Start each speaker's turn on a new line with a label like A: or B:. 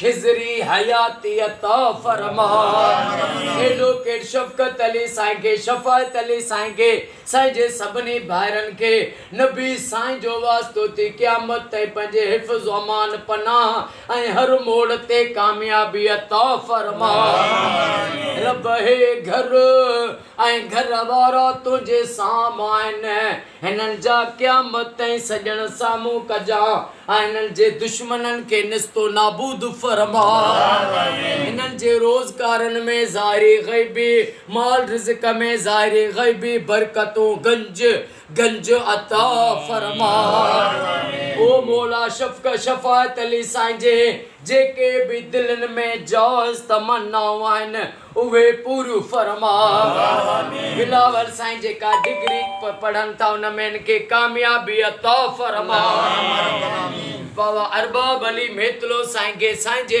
A: خضري حياتيء عطا فرما. ايڊوڪيٽ شفقت علي سائين کي شفاعت علي سائين کي سائين جي سڀني ڀائرن کي نبي سائين جو واسطو ٿي قيامت تائين پنهنجي حفظ وامان پناهه ۽ هر موڙ تي ڪاميابي عطا فرما رب هي گهر ۽ گهر وارا تنهنجي سام آهن. هنن جا قيامت تائين سڄڻ سامهون ڪجان ۽ هنن جي دشمنن کي نيست و نابود فرماء. هنن جي روزگارن ۾ ظاهري غيبي مال رزق ۾ ظاهري غيبي برڪتون گنج گنج عطا فرماء. او مولا شفق شفاعت علي سائين جي جيڪي به دلين ۾ جائز تمنائون آهن اهي پوريون فرما. بلاول سائين جيڪا ڊگري پڙهن ٿا ان ۾ هن کي ڪاميابي عطا فرما. بابا ارباب علي ميتلو سائين کي سائين جي.